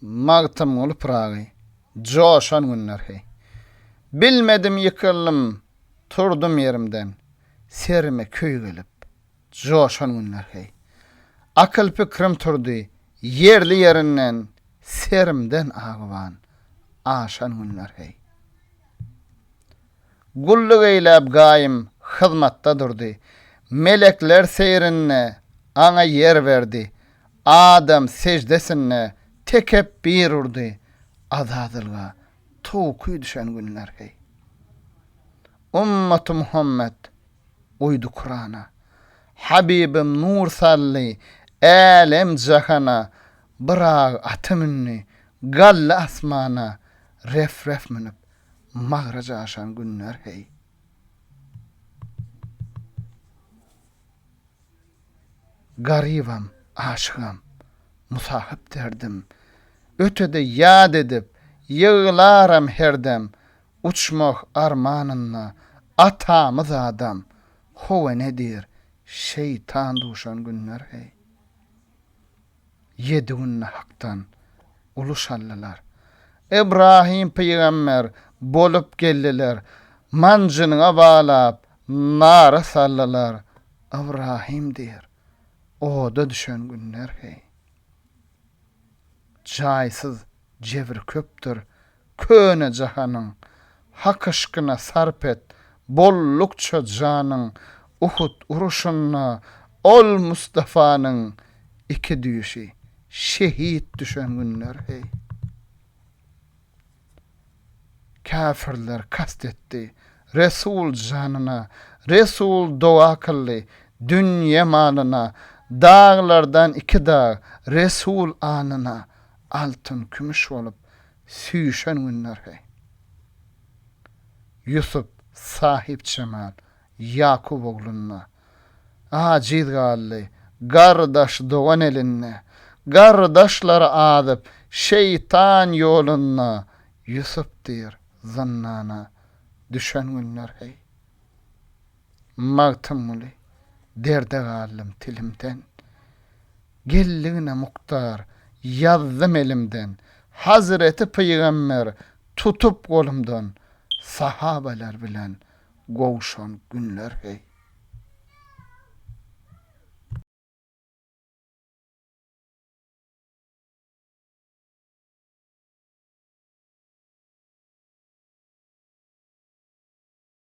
Magtymguly Pyragy, Joşan günler heý. Bilmedim ýykyldym, turdum ýerimden, Serime köý gelip, joşan günler heý. Akyl-pikrim turdy, ýerli-ýerinden, Serimden agyban, aşan günler heý. Gulluk eýläp gaýym hyzmatda durdy. Melekler seýrinde Aňa ýer berdi. Adam seždesinde tekepbir urdy. Azazylga towky düşen günler, heý! Ümmaty Muhammet uýdy Kurana. Habibim nur saldy älem-jahana. Byrag aty mündi, galdy asmana, ref-ref münüp Magraja aşan günler heý. Garybam, aşygam, musahyp derdim, Ötede ýad edip, ýyglaram her dem, Uçmak armanynda atamyz adam, Howa nedir, şeýtan duşan günler heý. ýedi günde Hakdan uluş aldylar. Ybrahym pygamber bolup geldiler, manjynyňa balap, nara saldylar, Ybrahym diýr, oda düşen günler heý. Jaýsyz jebir köpdür, köne jahanyň Hak yşkyna sarp et bollukça janyň Uhud uruşynda ol Mustafanyň iki düýşi şehit düşen günler heý Käfirler kast etdi Resul janyna Resul doga kyldy dünýe malyna Daglardan iki dag Resul anyna Altyn kümüş bolup süýşen günler heý. Ýusup, Sahypjemal, Ýakup oglunda. Ajiz galdy, gardaş, dogan elinde. Gardaşlar azyp, şeýtan ýolunda. Ýusup diýr, zyndana düşen günler heý. Magtymguly, Derde galdym tilimden. Geldigiňe Muktar, ýazdym elimden, Hazreti pygamber tutup golumdan, Sahabalar bilen gowşan günler heý.